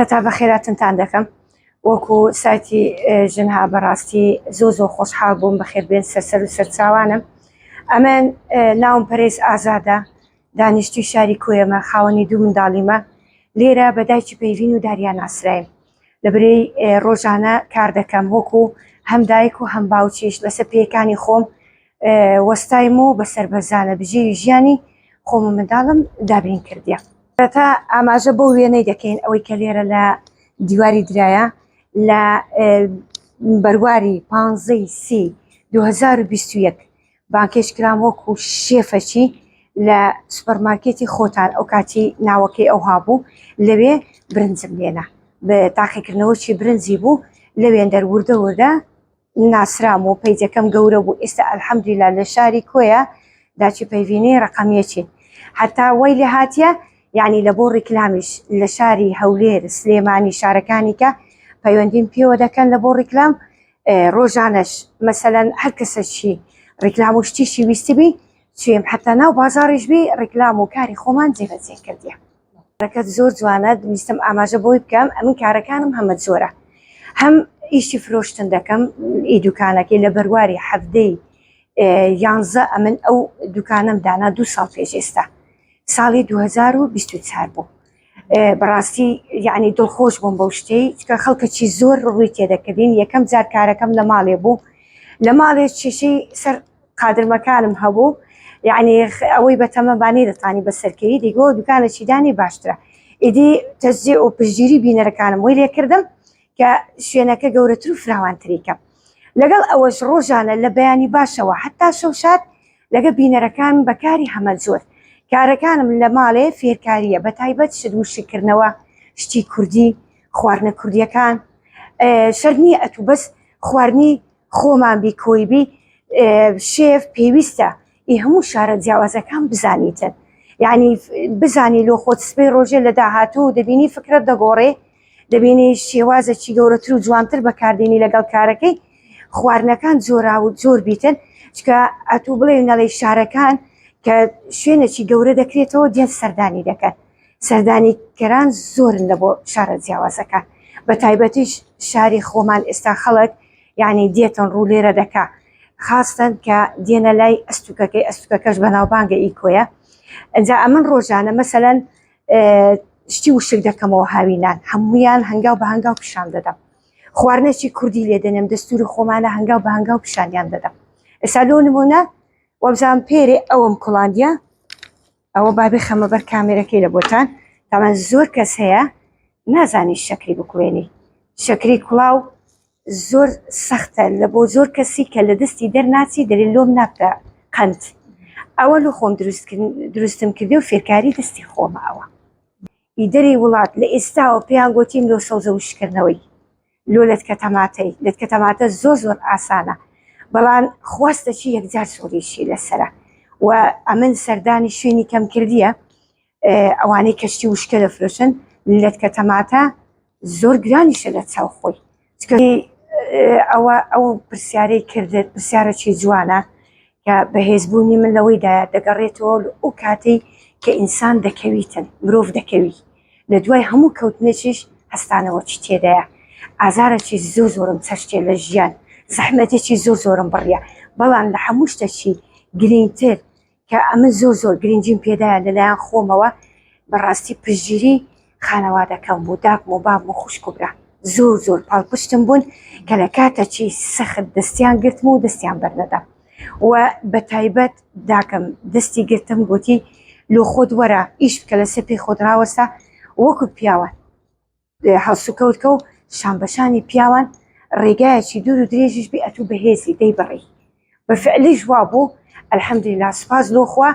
هەتا بەخێراتنتان دەکەم وەکو سایتی ژنها بەڕاستی زۆ زۆ خۆشحاڵ بووم بەخێربێن سەرسەر و سەرچاوانم ئەمن ناوم پەرێز ئازادە دانیشتوی شاری کوێمە خاوەنی دوو منداڵیمە لێرە بە دایکی پەیڤین و داریان ئاسرایم لە برەی ڕۆژانە کار دەکەم وەکو هەم دایک و هەم باوچیش لەسەر پێکانی خۆم وەستایم و بە سەربەرزانە بژێوی ژیانی خۆم و منداڵم دابین کردیە. سەرەتا ئاماژە بەو وێنەی دەکەین ئەوەی کە لێرە لە دیواری درایە لە بەرواری پانزەی سی دو هەزار و بیست و یەک بانکێش کرام وەکو شێفەچی لە سوپەرمارکێتی خۆتان ئەو کاتی ناوەکەی ئەوها بوو لەوێ برنجم لێنا بە تاقیکردنەوەی برنجی بوو لەوێندەر وردە وردە ناسرام و پەیجەکەم گەورە بوو ئێستا الحمدللە لە شاری کۆیە داچی پەیڤینەی ڕقم یەکین هەتا وای لێ هاتیە یعنی لە بۆ ڕیکلامیش لە شاری هەولێر سلێمانی شارەکانی کە پەیوەندیم پێوە دەکەن لە بۆ ڕیکلام ڕۆژانەش مەسەەن هەر کەسەشی ڕیکلام و شتیشی ویستبی چێم حتا ناو بازاڕیش بی ڕیکلام و کاری خۆمان جێبەجێ کردیە کارەکەت زۆر جوانە ویستم ئاماژە بۆی بکەم ئەمن کارەکانم هەمە جۆرە هەم ئیشی فرۆشتن دەکەم ئی دوکانەکەی لە بەرواری حەفتەی یانزە ئەمن ئەو دوکانم دانا دوو ساڵ پێش ئێستا ساڵی 2024 بوو بەڕاستی یعنی دڵخۆش بووم بەو شتەی چکە خەڵکەکی زۆر ڕووی تێدەکردین یەکەم جارکارەکەم لە ماڵێ بوو لە ماڵێ شیشەی سەر قادرمەکانم هەبوو یعنی ئەوەی بەتەمە بانی دەتانی بەسەرکەی دیگۆ دوکانە چیدانی باشترە ئیدی تەزیێ و پشگیری بینەرەکانم وی لێکردم کە شوێنەکە گەورەتر و فراوانتریکە لەگەڵ ئەوەش ڕۆژانە لە بەیانی باشەوە حتا شەوشات لەگە بینەرەکان بەکاری هەمە زۆر کارەکانم لە ماڵێ فێرکاریە بە تایبەت شت وشکردنەوە شتی کوردی خواردنە کوردیەکان شەرنی ئەتوو بەس خواردنی خۆمان بی کۆی بی شێف پێویستە ئی هەموو شارە جیاوازەکان بزانیتن یعنی بزانی لۆ خۆت سبەی ڕۆژێ لە داهاتوو دەبینی فکرت دەگۆڕێ دەبینی شێوازەکی گەورەتر و جوانتر بەکاردێنی لەگەڵ کارەکەی خواردنەکان جۆرا و جۆر بیتن چکە ئەتوو بڵێ نەڵی شارەکان کە شوێنێکی گەورە دەکرێتەوە دێن سەردانی دەکەن سەردانیکەران زۆرن لە بۆ شارە جیاوازەکان بە تایبەتیش شاری خۆمان ئێستا خەڵک یعنی دێتن ڕوو لێرە دەکا خاستن کە دێنە لای ئەستوکەکەی ئەستوکەکەش بەناوبانگە ئی کۆیە ئەجا ئەمن ڕۆژانە مەسەەن شتی وشک دەکەمەوە هاوینان هەمویان هەنگاو بە هەنگاو پیشان دەدەم خواردنێکی کوردی لێ دەنێم دەستوری خۆمانە هەنگاو بە هەنگاو پیشانیان دەدەم ئێستا لۆ نمونە وەبزان پێرێ ئەوم کوڵاندە ئەوە با بخەمە بەر کامێرەکەی لە بۆتان تامان زۆر کەس هەیە نازانی شەکری بکوێنی شەکری کوڵاو زۆر سەختە لە بۆ زۆر کەسی کە لە دەستی دەرناچی دەلی لۆم نابتە قند ئەوە لە خۆم دروستم کردی و فێرکاری دەستی خۆمە ئەوە ئیدەری وڵات لە ئێستاوە پێیان گوتیم لۆ سەوزە وشکردنەوەی لۆ لەتکە تەماتەی لەتکە تەماتە زۆر زۆر ئاسانە بەڵام خواستە چی یەکجار سوڕیشی لەسرە و ئەمن سەردانی شوێنی کەم کردیە ئەوانەی کەشتی وشکە لە فرۆشن لەتکە تەماتە زۆر گرانیشە لە چاو خۆی ئەوە ئەو پرسیارەی کردێت پرسیارەکی جوانە کە بەهێزبوونی من لەوەیدا دەگەڕێتەوە ئەو کاتەی کە ئینسان دەکەویتن مرۆڤ دەکەوی لە دوای هەموو کەوتنێکیش هەستانەوەکی تێدایە ئازارەکی زۆر زۆرم چەشتێ لە ژیان زەحمەتێکی زۆر زۆرم بڕە بەڵام لە هەموو شتەکی گرینگتر کە ئەمە زۆر زۆر گرنجیم پێدایە لەلایەن خۆمەوە بەڕاستی پژگیری خانەوادەکەم بوو داکم و باب و خوشک و برا زۆر زۆر پاڵپشتم بوون کە لە کاتەکی سەخت دەستیان گرتم و دەستیان بەرنەدەم و بە تایبەت داکم دەستی گرتم گوتی لۆ خۆت وەرە ئیش بکە لەسەر پێی خۆت ڕاوەسە وەکو پیاوان هەڵسوکەوتکە و شانبەشانی پیاوان ڕێگایەکی دوور و درێژیش بێ ئەتوو بەهێزی دەی بڕی بە فعلیش وا بوو الحمدلله سپاس لۆ خوا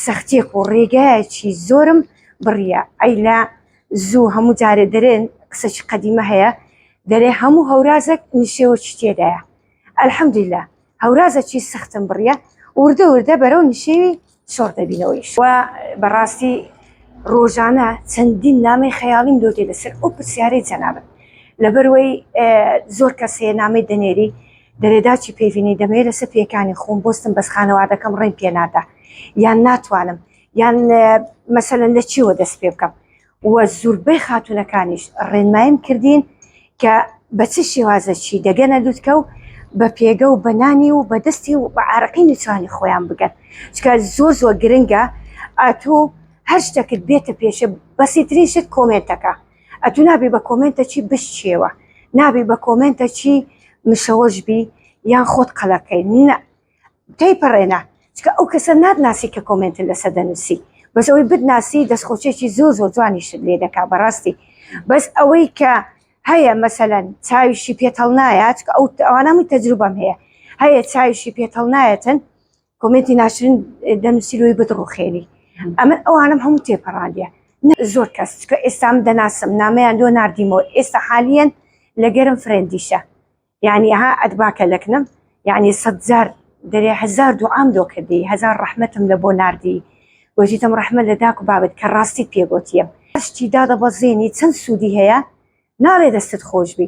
سەختیەک و ڕێگایەکی زۆرم بڕیە ئەی لە زوو هەموو جارێ دەرێن قسەکی قەدیمە هەیە دەرێ هەموو هەورازێک نشێوەکی تێدایە ئەلحەمدیلا هەورازەکی سەختم بڕیە وردە وردە بەرەو نشێوی شۆڕ دەبینەوەیش و بەڕاستی ڕۆژانە چەندین نامی خەیاڵیم لۆ دێ لەسەر ئەو پرسیارەی جەنابن لەبەروەی زۆر کەسێ نامی دەنێری دەرێداچی پێڤینەی دەمەوێت لەسەر پێکانی خۆم بستم بەس خانەوادەکەم ڕێم پێ نادا یان ناتوانم یان مەسەن لە چیوە دەست پێ بکەم وە زوربەی خاتونەکانیش ڕێنمایم کردین کە بە چ شێوازەچی دەگەنە لوتکە و بە پێگە و بەنانی و بەدەستی و بە عراقی نیچوانی خۆیان بگەن چکە زۆر زۆر گرنگە ئەتوو هەر شتەکرد بێتە پێشە بەسیترین شت کۆمێنتەکە ئەتو نابی بە کۆمێنتە چی بشچیەوە نابی بە کۆمێنتە چی مشەوەش بی یان خۆت قەلەکەی نە تێی پەڕێنە چکە ئەو کەسە ناتناسی کە کۆمێنت لەسە دەنووسی بەس ئەوەی بتناسی دەستخۆچێکی زۆر زۆر جوانی شت لێ دەکا بەڕاستی بەس ئەوەی کە هەیە مەسەەن چاویشی پێتەڵ نایە چکە ئەو ئەوانەمی تەجروبەم هەیە هەیە چاویشی پێتەڵ نایەتن کۆمێنتی ناشرین دەنووسی لۆی بدڕوخێنی ئەمە ئەوانم هەموو تێپەڕاندە زۆر کەس کە ئێستام دەناسم نامەیان لۆ نردیمەوە ئێستا حالیەن لەگەرم فرەندیشە یعنی ها ئەدباکە لەکنم یعنی سەدجار دەێ هزار دوعام دۆ کردی هزار ڕحمەتم لە بۆ نردی وەژیتم ڕحمە لە داک و بابت کە ڕاستی پێگوتیم شتی دادە بەزێنی چەند سوودی هەیە ناڵێ دەستت خۆشبی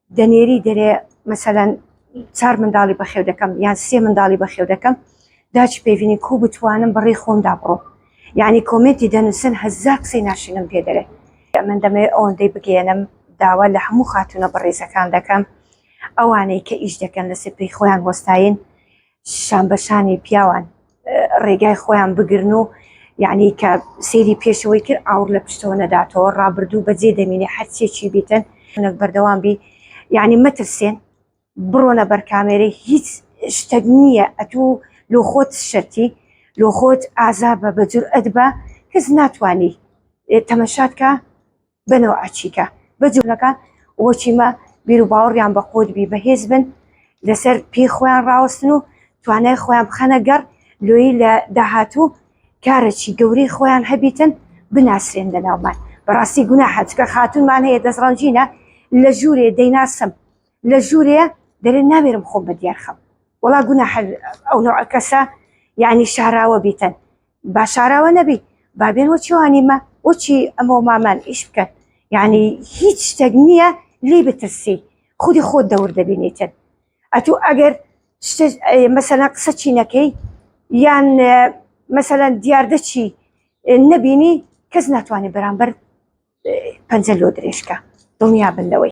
دەنێری دەرێ مەسەلەن چار منداڵی بەخێو دەکەم یان سێ منداڵی بەخێو دەکەم داچ پێوینی کو بتوانم بەڕێ خۆمدا بڕۆ یعنی کۆمێنتی دەنووسن هەزار قسەی ناشرینم پێ دەرێ من دەمەوێ ئەوەندەی بگەێنم داوا لە هەموو خاتونە بەڕێزەکان دەکەم ئەوانەی کە ئیش دەکەن لە سپی خۆیان وەستاین شان بەشانی پیاوان ڕێگای خۆیان بگرن و یعنی کە سێری پێشەوەی کرد ئاور لە پشتەوە نەداتەوە ڕابردوو بەجێ دەمینێ هەرچێکی بیتن نەک بەردەوام بی یعنی مەترسێن بڕۆنە بەر کامێرە هیچ شتەک نییە ئەتوو لۆ خۆت شەتی لۆ خۆت ئازا بە بەجور ئەدبە کەس ناتانی تەمەشاتکە بە نەوعە چیکە بە جوولەکان وە چیمە بیر و باوەڕیان بە قووت بی بە هێز بن لەسەر پێی خۆیان ڕاوەستن و توانای خۆیان بخەنە گەڕ لۆیی لە داهاتوو کارەکی گەورەی خۆیان هەبیتن بناسرێن لە ناومان بەڕاستی گونا حەجکە خاتونمان هەیە دەستڕەنجینە لە ژوورێ دەیناسم لە ژوورێ دەرێن ناوێرم خۆم بە دیارخەم وڵا گونا ئەو نەوە کەسە یعنی شاراوە بیتن با شاراوە نەبی با بێن وە چێوانیمە وەچی ئەمە مامان ئیش بکەن یعنی هیچ شتێک نییە لی بترسی خودی خۆت دەور دەبینیتن ئەتوو ئەگەر مەسەلا قسە چینەکەی یان مەسەلا دیاردە چی نەبینی کەس ناتوانانی بەرامبەر پەنجە لۆ درێژکە دڵنیا بن لەوەی